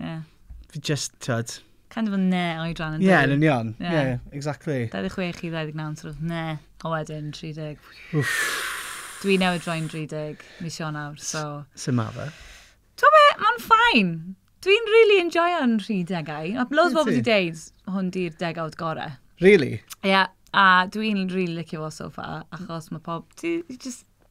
Ie. Fi just, tyd. Kind of a ne oedran yn Ie, yn union. Ie, yeah. yeah, exactly. 26 i 29, sort of ne. A wedyn, 30. Wff. Dwi newydd droi'n 30 mis Ionawr, so... Sut ma fe? Twa be, mae'n ffain. Dwi'n really enjoyo'n rhy degau. A loads bobl wedi deud, hwn di'r degawd gore. Really? Ie, yeah, a dwi'n really licio fo so far, achos mae pob... Ti just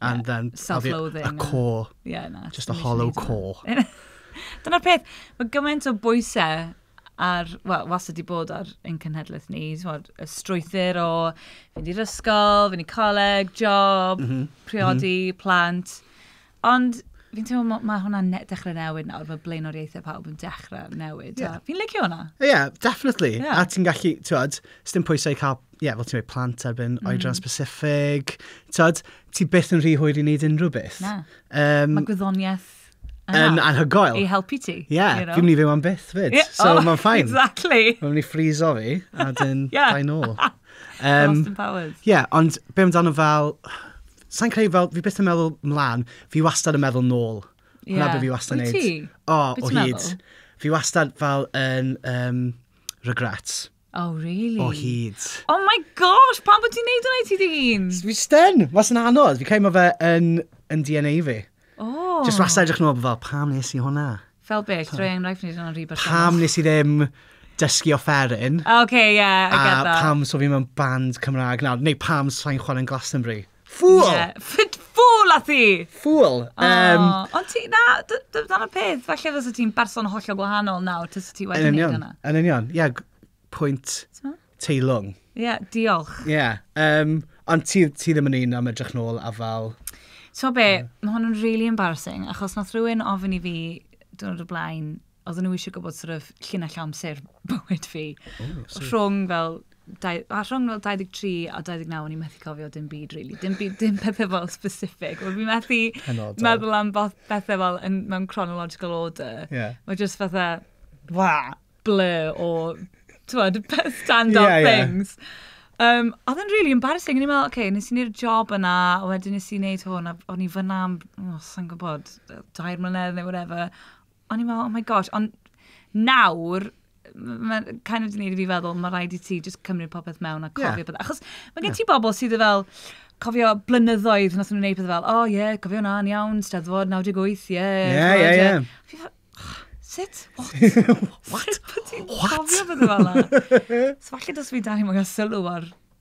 And then... Self-loathing. A core. Yeah, na. Just a hollow core. Dyna'r peth, mae gymaint o bwysau ar, wel, was ydi bod ar ein cenhedlaeth ni, tywod, y strwythyr o fynd i'r ysgol, fynd i coleg, job, mm -hmm. priodi, mm -hmm. plant. Ond Fi'n teimlo, mae ma hwnna'n ne dechrau newid nawr, mae blaenoriaethau pawb yn dechrau newid. Yeah. Fi'n licio hwnna. Ie, yeah, definitely. Yeah. A ti'n gallu, ti'n bod, sdim pwysau cael ie, yeah, fel ti'n meddwl, plant erbyn mm. oedran specific. Tod, ti byth yn rhy hwyr i wneud unrhyw beth. Na. Um, Mae gwyddoniaeth yn anhygoel. I helpu ti. Ie, yeah, you know? fi'n mynd i fyw am byth fyd. Yeah. So oh, mae'n ffain. Exactly. Mae'n mynd i ffrizo fi, a dyn yeah. bai nôl. Um, Austin Powers. Ie, yeah, ond be amdano fel... Sa'n creu fel, fi byth yn meddwl mlaen, fi wastad yn meddwl nôl. Yeah. Hwna beth fi wastad yn neud. O, o hyd. Fi wastad fel yn um, regrets. Oh, really? O hyd. Oh my gosh, pam bod ti'n neud hwnna i ti dy hun? Fi styn, was yn anodd. Fi cael mae fe yn, yn DNA fi. Oh. Just wastad edrych nôl fel, pam nes i hwnna? Fel beth, rhoi enghraifft ni dyna'n rhy bach. Pam nes i ddim dysgu offeryn? OK, yeah, I get that. A pam so fi mewn band Cymraeg nawr? Neu pam sa'n chwarae'n Glastonbury? Ffwl! Ie, ffit ffwl a thi! Ffwl! Yym... O, ond ti, na, dy- dy- dyna'r peth, falle fysa ti'n berson hollol gwahanol nawr tase ti wedi wneud hwnna. Yn union, ie, g- pwynt teilwng. Ie, diolch. Ie, yym, ond ti, ti ddim yn un am edrych nôl a fel... Ti'n gwybod be, mae hwn yn really embarrassing, achos nath rhywun ofyn i fi diwrnod o blaen, oedden nhw eisiau gwybod sort of llinell amser bywyd fi. Oh, so... Rhwng fel dau, a rhwng fel 23 a 29, o'n i'n methu cofio dim byd, really. Dim, byd, dim pethau fel specific. Wel, fi'n methu Penodol. meddwl am pethau fel yn, mewn chronological order. Yeah. Mae jyst fatha, wa, blur o, ti'n stand up yeah, things. Yeah. Um, oedd yn really embarrassing. O'n i'n meddwl, oce, okay, nes i wneud job yna, a wedyn nes i wneud hwn, a o'n i fyna am, oh, sa'n gwybod, dair mlynedd neu whatever. o'n i'n meddwl, oh my gosh, ond nawr, mae'n kind of di wneud i fi feddwl, mae rhaid i ti just cymryd popeth mewn a cofio yeah. beth. Achos mae gen ti bobl sydd yn fel, cofio blynyddoedd nath nhw'n gwneud pethau fel, oh yeah, cofio na, yn iawn, steddfod 98, yeah. Yeah, yeah, yeah. Fi fel, Sut? What? What? Sut bod ti'n cofio beth fel yna? So falle dos fi dan i mwyn sylw ar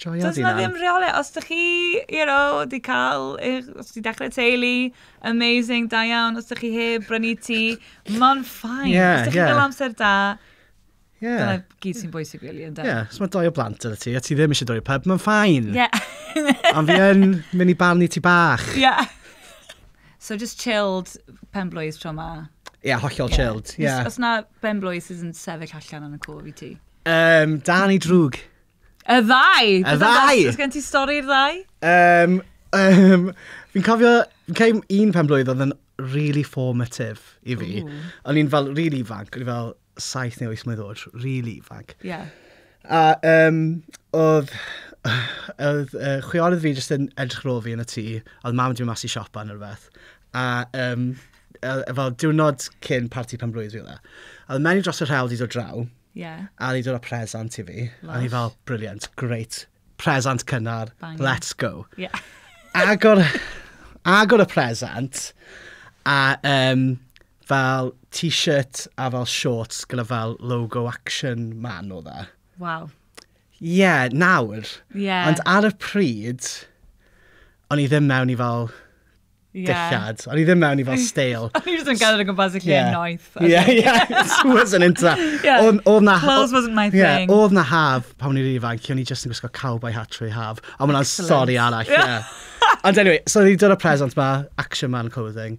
Joio Does 'na ddim rheole. Os ydych chi, you know, di cael, os di dechrau teulu, amazing, da iawn. Os ydych chi heb brynu ti, mae'n ffain. Yeah, os ydych chi yeah. gael amser da, Yeah. Dyna gyd sy'n bwysig, really, yn da. Yeah, os mae doi o blant ydy ti, a ti ddim eisiau doi o pub, mae'n ffain. Yeah. Ond fi yn mynd i barnu ti bach. Yeah. so just chilled pen blwydd tro ma. Ie, yeah, hollol yeah. chilled. Yeah. Os, os na ben blwydd sydd yn sefyll allan yn y cof i ti. Um, dan i drwg. Y ddau! Y ddau! Os gen ti stori i'r ddau? Um, um, fi'n cofio, fi'n cael un pen blwydd oedd yn really formative i fi. Ooh. O'n i'n fel really ifanc, o'n i fel saith neu wyth mlwydd oed, really ifanc. Ie. Yeah. A um, oedd, oedd uh, chwiorydd fi jyst yn edrych ar ôl fi yn y tŷ, oedd mam wedi mynd mas i siopa neu rhywbeth. A um, fel diwrnod cyn parti pen blwydd fi oedd e. A oedd menyw dros y rhewl wedi dod draw, Ie. A o'n i'n dod â presant i fi. Lysh. A o'n i fel, brilliant, grêt. Presant cynnar, let's go. Ie. Agor, agor y presant, a um, fel t-shirt a fel shorts gyda fel logo action man o dda. E. Waw. Ie, yeah, nawr. Ie. Yeah. Ond ar y pryd, o'n i ddim mewn i fel dillad. O'n i ddim mewn i fel stale. O'n i just yn gael yn gwmpas y lle yeah. noeth. Yeah, yeah, it wasn't into that. yeah. Oedd na... Clothes wasn't my yeah, thing. Oedd na haf pan o'n i'n ifanc, o'n i just yn gwisgo cowboy hat trwy haf. Ond mae'n stori arall, yeah. Ond anyway, so ni dod o present ma, Action Man Clothing.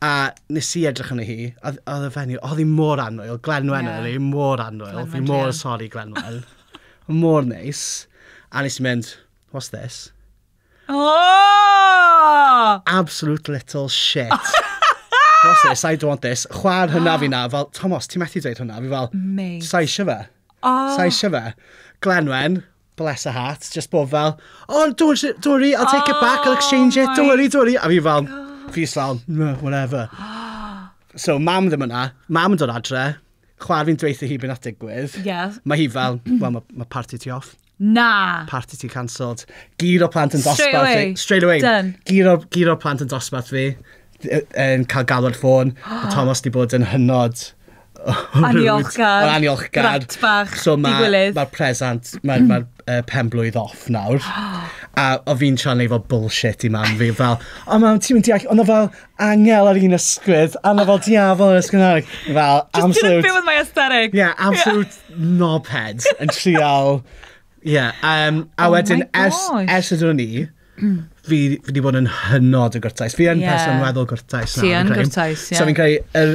A nes i edrych arni hi, oedd y fenyw, oedd hi mor anwyl, Glenwen yeah. oedd hi, mor anwyl, fi mor sori Glenwen. mor neis. A nes i mynd, what's this? Oh! Absolute little shit. What's this? I don't want this. Chwa'r hynna fi na. Fel, Tomos, ti methu dweud hwnna? Fi fel, Mate. Sa eisiau fe. Oh. Sa eisiau fe. Glenwen, bless her heart, just bod fel, oh, don't, don't worry, I'll take oh, it back, I'll exchange it, don't oh worry, don't worry. A fi fel, fi fel, no, whatever. So, mam ddim yna. Mam yn dod adre. Chwa'r fi'n dweithio hi beth nath digwydd. Yeah. Mae hi fel, well, mae ma party ti off. Na! Party ti cancelled. Gyd o plant yn dosbarth fi. Straight away. Straight away. Done. Gyd o, gyd o plant yn dosbarth fi. Yn cael galw'r ffôn. Mae Thomas di bod yn hynod... Aniolchgar. Yn aniolchgar. Brat bach. So mae ma presant, mae'r ma uh, pen blwydd off nawr. a o fi'n siarad neu fel bullshit i mam fi. Fel, o mam, ti'n mynd deall, ond o fel, angel ar un ysgwydd, a mae fel diafol yn ysgwydd arall. Fel, Just absolute... Just didn't feel with my aesthetic. Yeah, absolute yeah. knobhead yn trial. Yeah, um, a oh wedyn, ers, ers ydw ni, fi, fi wedi bod yn hynod o gwrtais. Fi yn yeah. person weddol gwrtais. Ti yn gwrtais, ie. Yeah. So fi'n credu, er,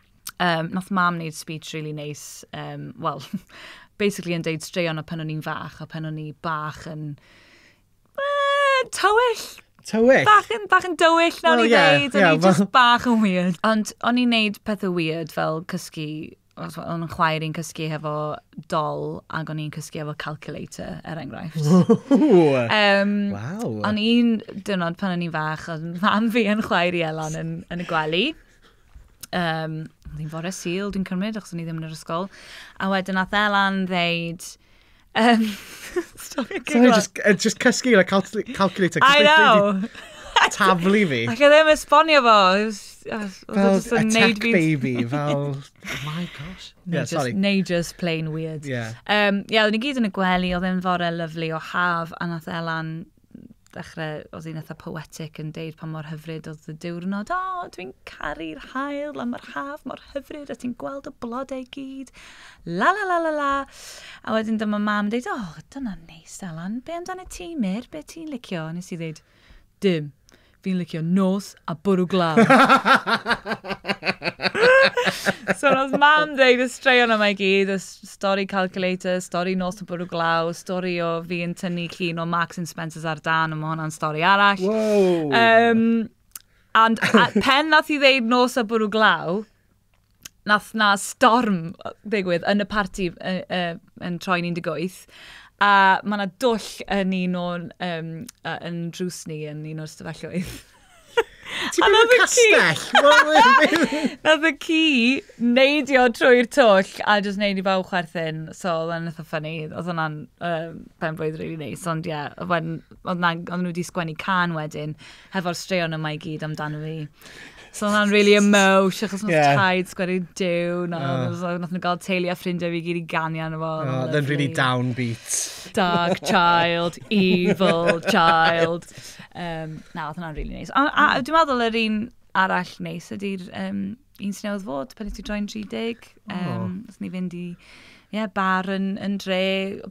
um, nath mam wneud speech really nice, um, well, basically yn deud straeon o pan o'n i'n fach, a pan o'n i bach yn... Uh, tywyll! Tywyll? Bach yn, bach yn dywyll, nawr well, i yeah, ddeud, yeah, o'n i just bach yn weird. Ond o'n i'n neud pethau weird fel cysgu o'n chwaer i'n cysgu hefo dol ac o'n i'n cysgu hefo calculator, er enghraifft. um, wow. O'n i'n dynod pan o'n i'n fach, oedd mam fi yn chwaer i Elon yn, yn y gwely. Um, oedd hi'n fore sil, dwi'n cymryd, achos o'n i ddim yn yr ysgol. A wedyn nath Elan ddeud... Um, Sorry, Sorry just, uh, just cysgu gyda cal calculator. I know! Taflu fi. Ac oedd e'n esbonio fo. Fel attack baby, fel... Oh my gosh. Yeah, just, sorry. Neu just plain weird. Yeah. Um, yeah, oedden ni gyd yn y gwely, oedd e'n fore lyflu o haf, a nath Elan ddechrau, oedd hi'n eitha poetic yn deud pa mor hyfryd oedd y diwrnod. O, oh, dwi'n caru'r hael, a mae'r haf mor hyfryd, a ti'n gweld y blodau gyd. La la la la la. A wedyn dyma mam yn deud, o, oh, dyna neis, Alan. Be amdano ti, Mir? Be ti'n licio? Nes i ddeud, dim. Fi'n licio nos a bwrw glaw. so nos mam dweud y straeon yma i gyd, y stori calculator, stori nos a bwrw glaw, stori o fi yn tynnu llun o Max and Spencer's ar dan, ond mae hwnna'n stori arall. Wow. Um, and pen nath i ddeud nos a bwrw glaw, nath na storm ddigwydd yn y parti uh, uh, yn troi'n 18 a mae yna dwll yn un o'n um, uh, yn drws ni yn un o'r stafelloedd. Ti'n mynd i'r castell? Nath y ci neidio trwy'r twll a jyst neud i bawb chwerthin. So, oedd yn eitha ffynnu. Oedd hwnna'n uh, pen blwydd rili really neis. Ond ie, yeah, oedd nhw wedi sgwennu can wedyn hefo'r straeon yma i gyd amdano fi. So hwnna'n really emosh, achos mae'n yeah. taid sgweri dew, na, oh. so, nath nhw gael teulu a ffrindiau fi gyd i ganu arno fo. Oh, then really downbeat. Dark child, evil child. Um, na, oedd hwnna'n really nice. A, a dwi'n meddwl yr un arall neis ydy'r um, un sy'n newydd fod, pan nes i droi'n 30. Um, nes ni fynd i yeah, bar yn, yn dre,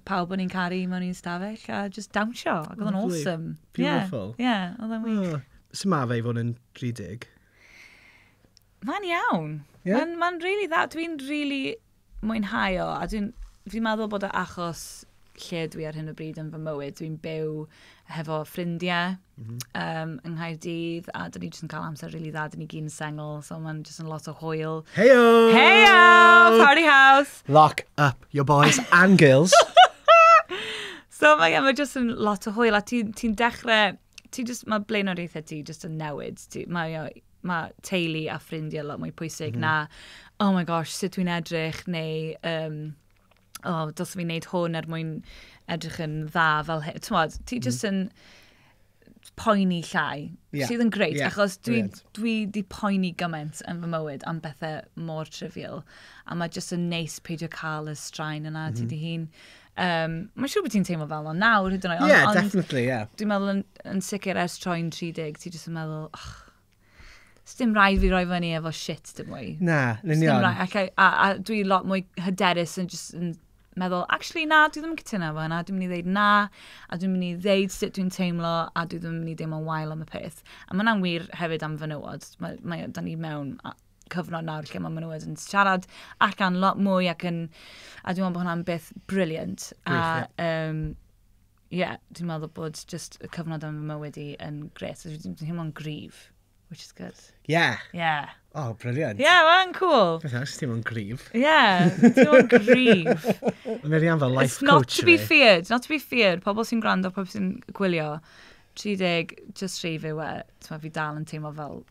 pawb o'n i'n caru mewn un stafell, a just dawnsio. Ac oedd o'n awesome. Beautiful. Ie, yeah, yeah, oedd o'n wych. Oh. Sut mae fe i fod yn 30? Mae'n iawn. Yeah? Mae'n ma rili dda. Dwi'n rili... Really mwynhau o, a dwi'n fi'n meddwl bod o achos lle dwi ar hyn o bryd yn fy mywyd. Dwi'n byw hefo ffrindiau mm -hmm. um, yng Nghaerdydd, a dyn ni jyst yn cael amser rili really dda, dyn ni gyn sengl, so mae'n jyst yn lot o hwyl. Heyo! Heyo! Party house! Lock up your boys and girls. so mae yeah, ma jyst yn lot o hwyl, a ti'n ti, ti dechrau ti jyst, mae blaenoriaethau ti jyst yn newid. Ti, mae, mae teulu a ffrindiau lot mwy pwysig mm -hmm. na, oh my gosh, sut dwi'n edrych, neu, um, oh, dos fi'n neud hwn er mwyn edrych yn dda fel hyn. Ti'n modd, ti jyst mm. yn poeni llai, yeah. sydd yn greit, yeah. achos dwi, dwi di poeni gymaint yn fy mywyd am bethau mor trivial, a mae jyst yn neis peidio cael y straen yna mm -hmm. ti mhm. di hun. Um, mae'n siŵr bod ti'n teimlo fel o'n nawr, hyd yn oed. Ie, yeah, definitely, ie. Yeah. Dwi'n meddwl yn, yn sicr ers troi'n 30, ti jyst yn meddwl, oh, Sdim rai fi roi fyny efo shit dim mwy. Na, lunion. Rai, ac, a, a dwi lot mwy hyderus yn just yn meddwl, actually na, dwi ddim yn cytuno efo hynna, dwi'n mynd i ddeud na, a dwi'n mynd i ddeud sut dwi'n teimlo, a dwi ddim yn mynd i deimlo'n wael am y peth. A mae hwnna'n wir hefyd am fenywod. Mae, mae, da ni mewn cyfnod nawr lle mae nhw yn siarad allan lot mwy ac yn... A dwi'n meddwl bod hwnna'n beth briliant. A, um, yeah, dwi'n meddwl bod just y cyfnod yn fy mywyd i yn gret. Dwi'n teimlo'n grif, which is good. Yeah. Yeah. Oh, briliant. Yeah, mae'n cool. Beth ys ti'n mwyn grif? Yeah, ti'n mwyn grif. Mae'n rhi fel life It's not to be feared, not to be feared. Pobl sy'n gwrando, pobl sy'n gwylio, 30, just rhi fe we. Ti'n fi dal yn teimlo fel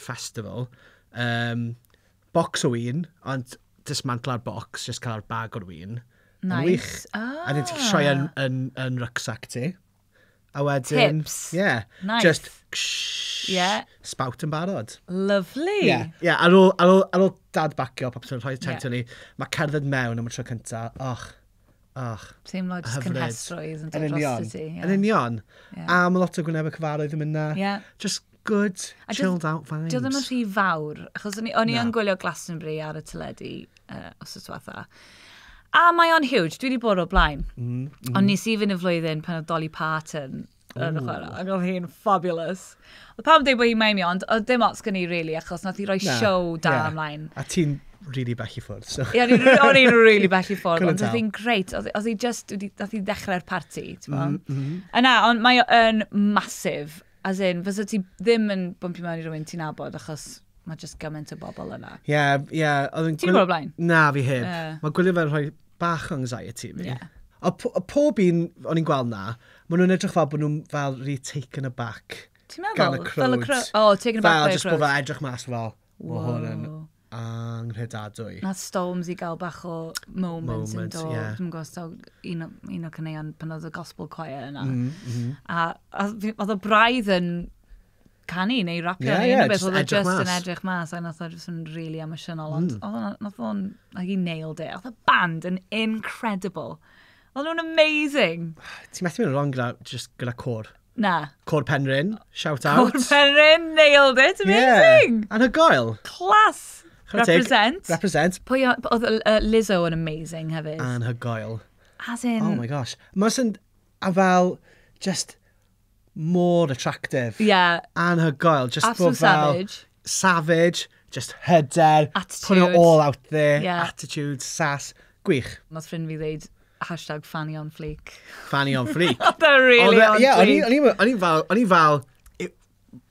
festival, um, bocs o win, ond dismantla'r bocs, jyst cael bag o'r win. Nice. Wych. Ah. A dyn ti'n sioe yn, yn, yn rucksack ti. A wedyn... Tips. Yeah. Nice. Just... Ksh, yeah. Spout yn barod. Lovely. Yeah. yeah. Ar, ôl, ar, ôl, ar ôl dad bacio popeth yn rhoi tent yeah. ni, mae cerdded mewn am y tro cyntaf. Och, Och. Teimlo jyst cynhesrwydd yn dod dros ti. Yn union. A mae lot o gwynebau cyfarwydd yn mynd na. Yeah. Just good, a chilled out vibes. Dwi ddim yn rhy fawr, achos o'n i yn gwylio Glastonbury ar y teledu uh, os oes fatha. A mae o'n huge, dwi wedi bod o'r blaen. Mm, mm. Ond nes i fynd y flwyddyn pan oedd Dolly Parton yn y chwarae. Ac oedd hi'n fabulous. Oedd pawb yn dweud bod hi'n maemi, ond oedd dim ots gen i, really, achos nath i roi Na, siow da ie. ymlaen. A ti'n really bell i ffwrdd, so... Ie, o'n i'n o'n i'n rili bell i ffwrdd, Couldn't ond oedd tell. hi'n greit. Oedd oedd hi just, wedi- nath hi ddechrau'r parti, ti'n Mm, meddwl? mm. Yna, ond mae o'n masif. As in, fysa ti ddim yn bwmpio mewn i rywun ti'n abod, achos mae just gymaint o bobl yna. Ie, ie, oedd yn... Ti'n gwybod blaen? Na, fi heb. Ie. Mae gwylio fe'n rhoi bach o anxiety fi. Ie. A po- a pob un o'n i'n gweld na, Maen nhw'n edrych fel bod nhw fel rhy taken aback Ti'n meddwl? gan y crowd. Fel y crowd. O, oh, taken aback fel, by a crowd. Fel, jyst bod fe edrych mas fel, mae hwn yn anghredadwy. Nath Storms i gael bach o moment, yn do. Yeah. Dwi'n gwybod, so, un, o, un o cyneuon pan oedd y gospel choir yna. Mm, mm. A, a oedd y braidd yn canu neu rapio yeah, neu yeah, beth, oedd o just mas. yn edrych mas a nath o just yn really emotional, ond mm. oedd o'n, nath o'n, like, he nailed it. Oedd y band yn incredible. O'n nhw'n amazing! Ti methu mynd yn wrong gyda, just gyda côr. Na. Côr Penrhyn, shout out. Côr Penrhyn, nailed it, amazing! Yeah, anhygoel. Class! Represent. Represent. Pwy oedd uh, Lizzo yn amazing hefyd? Anhygoel. As in... Oh my gosh. Mae'n sy'n... A fel, just mor attractive. Ie. Yeah. Anhygoel. Just Absolute fel, savage. Savage. Just hyder. Attitude. Put it all out there. Yeah. Attitude, sass. Gwych. Nos ffrind fi ddeud hashtag fanny on fleek. Fanny on fleek. They're really on fleek. Ie, o'n i'n fel, o'n i'n fel,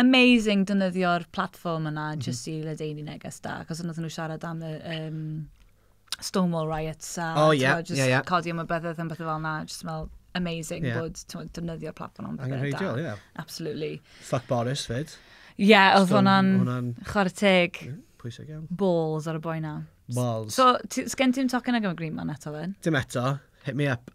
amazing dynyddio'r platform yna mm. just i ledeini neges da, cos yna nhw siarad am y um, Stonewall riots a oh, yeah, just yeah, yeah. codi am y byddedd yn beth fel na, just fel amazing yeah. bod dynyddio'r platform am bethau da. Yeah. Absolutely. Fuck Boris fyd. Ie, yeah, oedd hwnna'n chwarae teg. Pwysig iawn. Balls ar y boi na. Balls. So, sgen ti'n tocyn ag am y Green Man eto fe? Dim eto. Hit me up.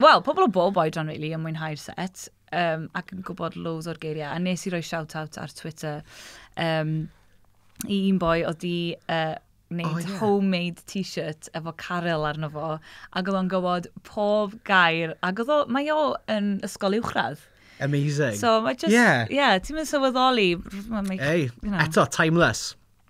Wel, pobl o bob oedran, really, yn mwynhau'r set, um, ac yn gwybod loads o'r geiriau. A nes i roi shout-out ar Twitter um, i un boi oedd di uh, wneud oh, yeah. homemade t-shirt efo Caryl arno fo, ac oedd o'n gywod pob gair, ac oedd o, mae o yn ysgol uwchradd. Amazing. So mae just, yeah, yeah ti'n mynd sylweddoli. Mae, mae, Ei, you know. eto, timeless.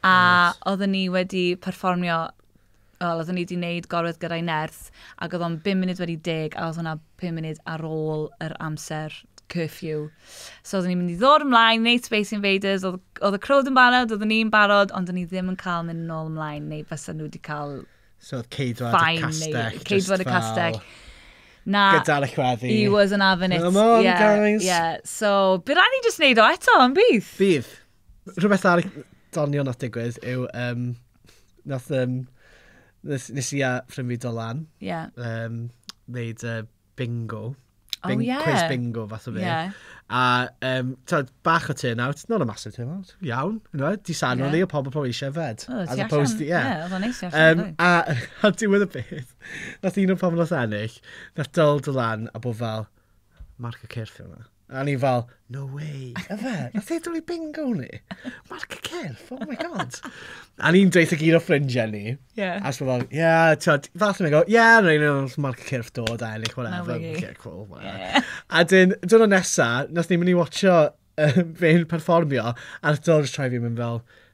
A nice. oedden ni wedi perfformio, wel, oedden ni wedi gwneud gorwedd gyda'i nerth, ac oedd o'n 5 munud wedi deg, a oedd hwnna 5 munud ar ôl yr amser curfew. So oedden ni'n mynd i ddod ymlaen, wneud Space Invaders, oedd, oedd y crowd yn barod, oedden ni'n barod, ond oedden ni ddim yn cael mynd nôl ymlaen, neu fysa nhw wedi cael... So oedd ceidwad y castell. Ceidwad y castell. Fel... Na. Gyda'r chweddi. He was an having it. Come on, yeah, guys. Yeah. So, bydd rhaid ni just neud o eto, yn bydd? Bydd. Rhywbeth ar doniol nath digwydd yw, um, nath, um, nes, nes i a ffrind fi Dolan, yeah. um, wneud uh, bingo. Oh, Bing, oh, yeah. Quiz bingo, fath o fe. Yeah. A, um, tyd, bach o turnout, not a massive turnout, iawn, you know, di sanu yeah. ni o pobl pobl eisiau fed. Oh, as opposed to, yeah. Yeah, oedd o'n um, a, a diwedd y beth, nath un o'r pobl nath ennill, nath dol Dolan a bod fel, marc y cyrff yma. A ni fel, no way, yfe? Wnaeth e dwlu bingo ni? Mark y cyrff, oh my god. A ni'n dweutha gyd o ffrindiau ni... Ie. ...A jyst fel, ie, tibod, falle ni'n gweld, ie, neu wnaeth Mark y cyrff dod a ennill whatever... Na wei. ...Ok, cool, whatever. A wedyn, y diwrnod nesa, wnaethon ni mynd i watsio yy fe'n perfformio, a wnaeth Dylan jyst troi i fi a mynd fel...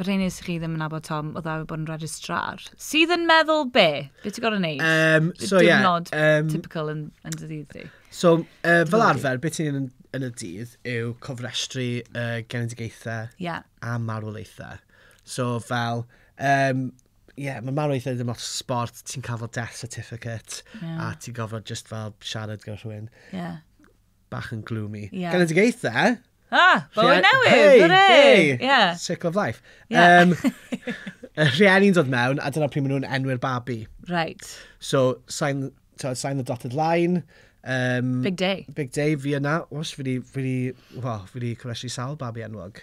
Yr hyn nes i chi ddim yn nabod Tom, oedd e wedi bod yn registrar. Sydd yn meddwl be? Be ti'n gorau neud? Um, so, ie. Yeah, Diwrnod um, typical yn, yn dy ddydd di. So, uh, fel arfer, beth ti'n yn, yn y dydd yw cofrestru uh, genedigaethau yeah. a marwolaethau. So, fel, um, ie, yeah, mae marwolaethau ddim lot sport, ti'n cael fel death certificate, yeah. a ti'n gofod just fel siarad gyda rhywun. Yeah. bach yn gloomy. Yeah. Galedigaethau! Ah, bywyd newydd, hey, hooray! Hey. Yeah. Circle of life. Yeah. Um, y rhieni'n dod mewn, a dyna pryd maen nhw'n enwi'r babi. Right. So, sign, so, sign the dotted line. Um, big day. Big day, fi yna. Os, fi di, fi di, well, fi di cwresi sawl babi enwog.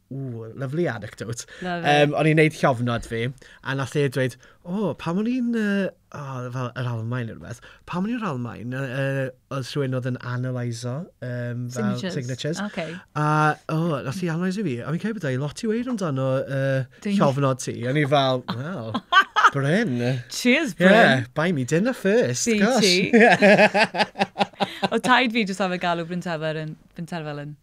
Ww, lovely anecdote. Love it. Um, o'n i'n neud llofnod fi, a nath e dweud, o, oh, pam o'n i'n, uh, oh, fel yr Almain neu rhywbeth, pam o'n i'n yr Almain, uh, uh, oedd rhywun oedd yn analyso um, fel signatures. signatures. Okay. A, o, oh, nath i analyso fi, a fi'n cael bod ei lot i weid amdano uh, llofnod ti. O'n i fel, wow, Bryn. Cheers, Bryn. Yeah, buy me dinner first. Ti, gosh. ti. Yeah. o taid fi jyst am y galw Bryn Tefer yn, Bryn Terfel yn.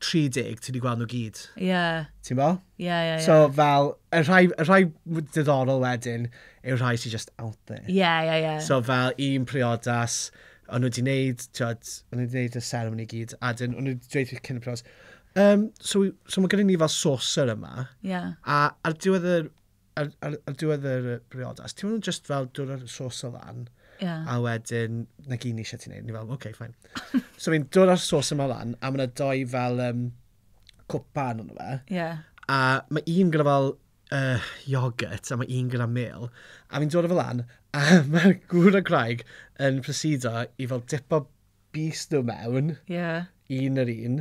30, ti wedi gweld nhw gyd. Ie. Yeah. Ti'n bo? Ie, yeah, ie, yeah, ie. Yeah. So fel, y rhai, y rhai diddorol wedyn yw'r rhai sy'n just out there. Ie, yeah, ie, yeah, ie. Yeah. So fel un priodas, o'n nhw wedi gwneud, tiod, o'n nhw wedi gwneud y ceremony gyd, a dyn, o'n nhw wedi dweud cyn y priodas, um, so, so mae gen i ni fel saucer yma, yeah. a ar diwedd y Ar, ar, ar diwedd yr briodas, ti'n nhw'n just fel dod ar sos o lan, yeah. a wedyn, na gyn eisiau ti'n neud, ni fel, oce, okay, ffain. so fi'n dod ar sos yma lan, a mae'na doi fel um, cwpa yn hwnnw fe. Yeah. A mae un gyda fel uh, yoghurt, a mae un gyda mel. A fi'n dod o fel lan, a mae gŵr a graig yn proceedo i fel dipo bust nhw mewn. Ie. Un yr un,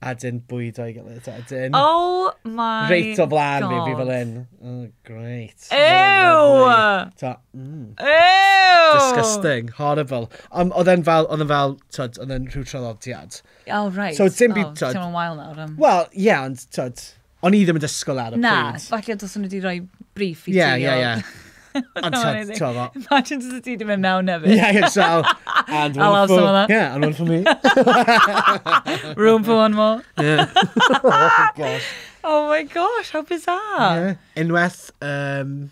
a dyn bwydo i gilydd. A dyn... Oh my Reit o flan fi, fi fel un. Oh, great. Ew! Ta, mm. Ew! Disgusting, horrible. Um, oedd e'n fel, oedd e'n fel, tyd, oedd e'n rhyw traddodiad. Oh, right. So, dim byd, tyd. Oh, ti'n wael nawr. Wel, ie, ond, tyd. O'n i ddim yn disgwyl ar y Na, pryd. falle dos nhw wedi rhoi brief i ti. Ie, ie, ie. Ond ti'n teimlo... Imagine dod ti wedi mynd mewn hefyd. Ie, ie, so... And one I'll have some of that. Yeah, and one for me. Room for one more. Yeah. oh, gosh. oh my gosh, how bizarre. Yeah. Unwaith, um,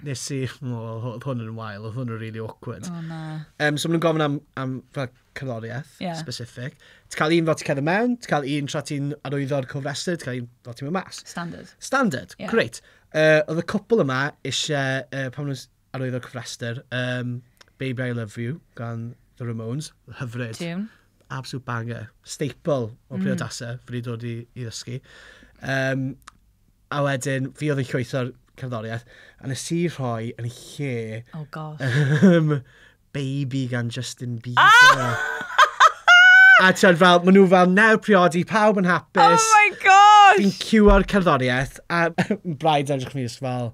nes i, o, oedd hwn yn wael, oedd hwn yn really awkward. O, na. Um, so maen nhw'n gofyn am, am fel cerddoriaeth yeah. specific. Ti'n cael un fel ti'n cael yn mewn, ti'n cael un tra ti'n arwyddo'r cofrestr, ti'n cael un fel ti'n mynd mas. Standard. Standard, yeah. great. Uh, oedd y cwpl yma eisiau, uh, pan nhw'n arwyddo'r cofrestr, um, Baby I Love You gan The Ramones, hyfryd. Tune. Absolute banger. Staple o mm. priodasau, fyddi dod i, i ddysgu. Um, A wedyn, fi oedd yn llwytho'r cerddoriaeth, a nes i rhoi yn lle... Oh gosh. ...yym, Baby gan Justin Bieber. A timod fel, maen nhw fel, nawr priodi, pawb yn hapus... Oh my gosh! ...Fi'n cio'r cerddoriaeth, a braidd edrych arno fi jyst fel...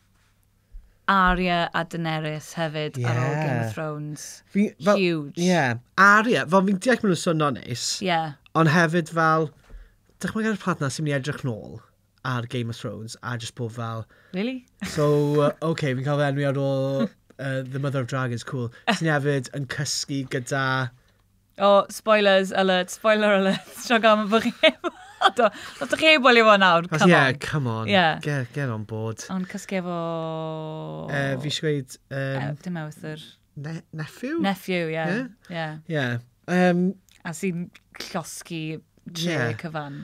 Arya a Daenerys hefyd yeah. ar ôl Game of Thrones. Fi, fel, Huge. Yeah. Arya, fel fi'n deall maen nhw'n swnio neis. Yeah. Ond hefyd fel, dychmyg ar y plant na sy'n mynd i edrych nôl ar Game of Thrones a just bod fel... Really? So, uh, okay, fi'n cael fy enwi ar ôl uh, The Mother of Dragons, cool. Sy'n hefyd yn cysgu gyda O, oh, spoilers alert, spoiler alert. Siog am bod chi heb weld o. Os ydych chi heb weld o nawr, come on. Yeah, come on. Yeah. Get, get on board. Ond cysgu efo... Uh, fi eisiau gweud... Um, uh, dim ewthr. Ne nephew? Nephew, ie. Yeah. Yeah. yeah. yeah. Um, A sy'n llosgi tre yeah. cyfan.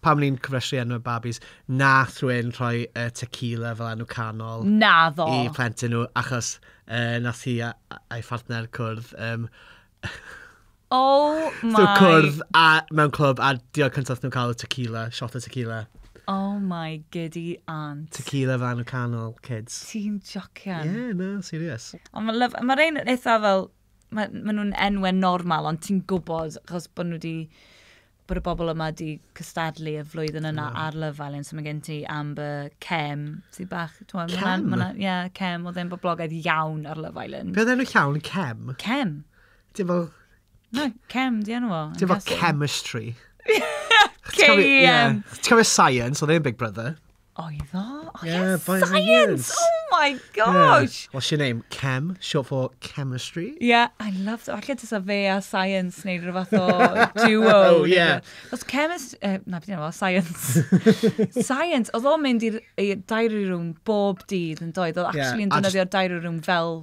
Pam ni'n cofrestru enwau babis, wnaethon nhw un rhoi yy Tequila fel enw canol... Naddo! ...i plentyn nhw, achos yy wnaeth hi a- a- a'i phartner cwrdd yym... Oh my... So cwrdd a mewn clwb a diolch cyntaf wnaethon nhw cael oedd Tequila, shot o Tequila. Oh my giddy aunt. Tequila fel enw canol, kids. Ti'n jocian? Ie, na, serious. Ond mae'n lyf... Mae rhein yn eitha fel... Mae, maen nhw'n enwau normal ond ti'n gwybod achos bod nhw 'di... bod y bobl yma wedi cystadlu y flwyddyn yna mm. ar Love Island, so mae gen ti Amber, Cem, ti bach... Cem? Ie, yeah, Cem, oedd e'n boblogaidd iawn ar Love Island. Beth enw llawn, Cem? Cem. Ti'n fel... Na, Cem, di enw o. Ti'n fel chemistry. K-E-M. Ti'n cofio science, oedd e'n Big Brother? Oedd o? Oh, yeah, yeah science! science! Oh my gosh! Yeah. What's your name? Chem, short for chemistry. Yeah, I love that. Falle tysa fe a science neu rhyw fath o duo. oh, yeah. Os chemist... Uh, na, beth yna, science. science. Oedd o'n mynd i'r diary room bob dydd yn doedd. Oedd actually yn yeah, dynyddio diary room fel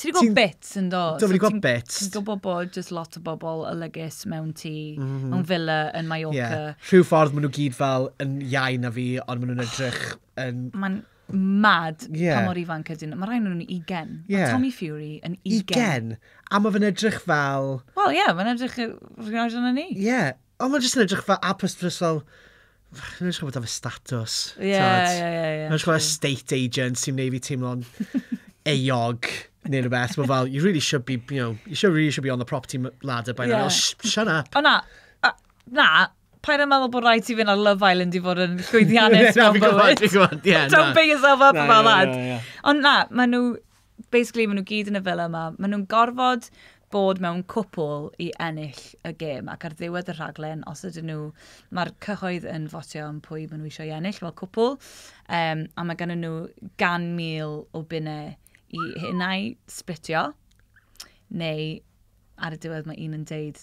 Ti wedi gweld bits yn do? Dwi wedi gweld bits. Ti'n gwybod bod just lot o bobl y lygys mewn ti, mm -hmm. mewn villa yn Mallorca. Yeah. Rhyw ffordd maen nhw gyd fel yn iau na fi, ond maen nhw'n edrych yn... Mae'n mad yeah. pa mor ifanc ydyn. Mae rhaid nhw'n ugen. Yeah. Mae Tommy Fury yn ugen. Ugen? A mae fe'n edrych fel... Wel, ie, yeah, mae'n edrych rhywbeth yna ni. Ie. Yeah. Ond mae'n jyst yn edrych fel apus dros fel... Fach, nhw'n siŵr bod fe status. Ie, ie, ie. Nhw'n siŵr estate agent sy'n neud fi teimlo'n eog neu rhywbeth. Mae fel, you really should be, you know, you should really should be on the property ladder by now. Yeah. Shut up. O na, na, pa'n yn meddwl bod rhaid ti fynd ar Love Island i fod yn llwyddiannus mewn bywyd. Don't beat yourself up about that. Ond na, maen nhw, basically maen nhw gyd yn y fel yma. Maen nhw'n gorfod bod mewn cwpl i ennill y gêm ac ar ddiwedd y rhaglen, os ydyn nhw, mae'r cyhoedd yn fotio am pwy maen nhw eisiau ennill fel cwpl um, a mae gen nhw gan mil o bunnau i hynau splitio neu ar y diwedd mae un yn deud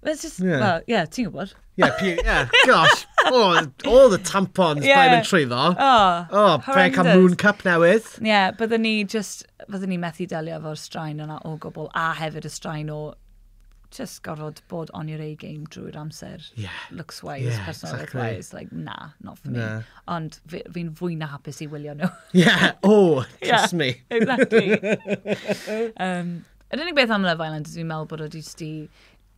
Mae'n just, Ie. wel, ie, ti'n gwybod. Ie, pi- ie, gosh. Oh, all the tampons Ie. yeah. mae'n trwyddo. O, Oh, fe cael horrendous. moon cup newydd. Ie, yeah, byddwn ni just, byddwn ni methu delio efo'r straen yna o gwbl, a hefyd y straen o just gorfod bod on your A-game drwy'r amser. Ie. Looks wise, Ie, yeah, personality exactly. wise, like, na, not for me. Na. Ond fi- fi'n fwy na hapus i wylio nhw. Yeah, oh, trust me. exactly. um, Yr unig beth am Love Island dwi'n meddwl bod o jyst di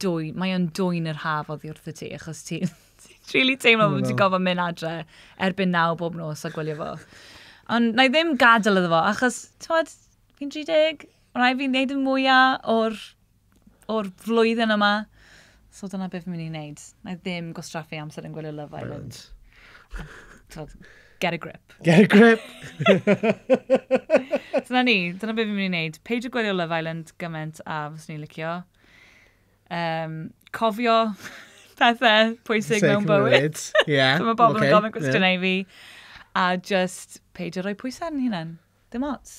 dwy... Mae o'n dwy'n yr haf oddi wrth y ti, achos ti... Ti'n really teimlo bod ti'n gofod mynd adre erbyn naw bob nos a gwylio fo. Ond na i ddim gadael iddo fo, achos, ti'n fi'n 30, rhaid fi'n neud y mwyaf o'r, or flwyddyn yma. So dyna beth fi'n mynd i wneud. Na i ddim gwastraffu amser yn gwylio Love Island. Twod, get a grip. Get a grip! So na ni, dyna beth fi'n mynd i wneud. Peidio gwylio Love Island gymaint a fys ni'n licio. Um, cofio pethau pwysig Seg mewn bywyd. mywyd. Ie. So mae bobl yn gofyn cwestiynau i fi. A just peidio rhoi pwysau yn hunan. Dim ots.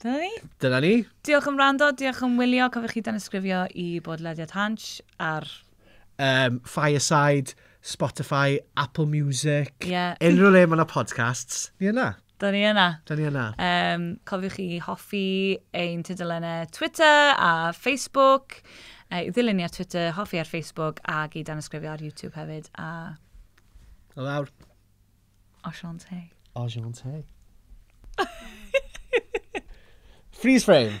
Dyna ni. Dyna ni. Diolch am rando, diolch am wylio. Cofiwch chi danysgrifio i bodlediad Hansh ar... Um, Fireside, Spotify, Apple Music. Ie. Yeah. Unrhyw le mae yna podcasts, ni yna. Da ni yna. Da ni yna. Um, cofiwch chi hoffi ein tudalennau Twitter a Facebook. Uh, ddilyn ni ar Twitter, hoffi ar Facebook ac i danysgrifio ar YouTube hefyd. A... O lawr. Ashante. Ashante. Freeze frame.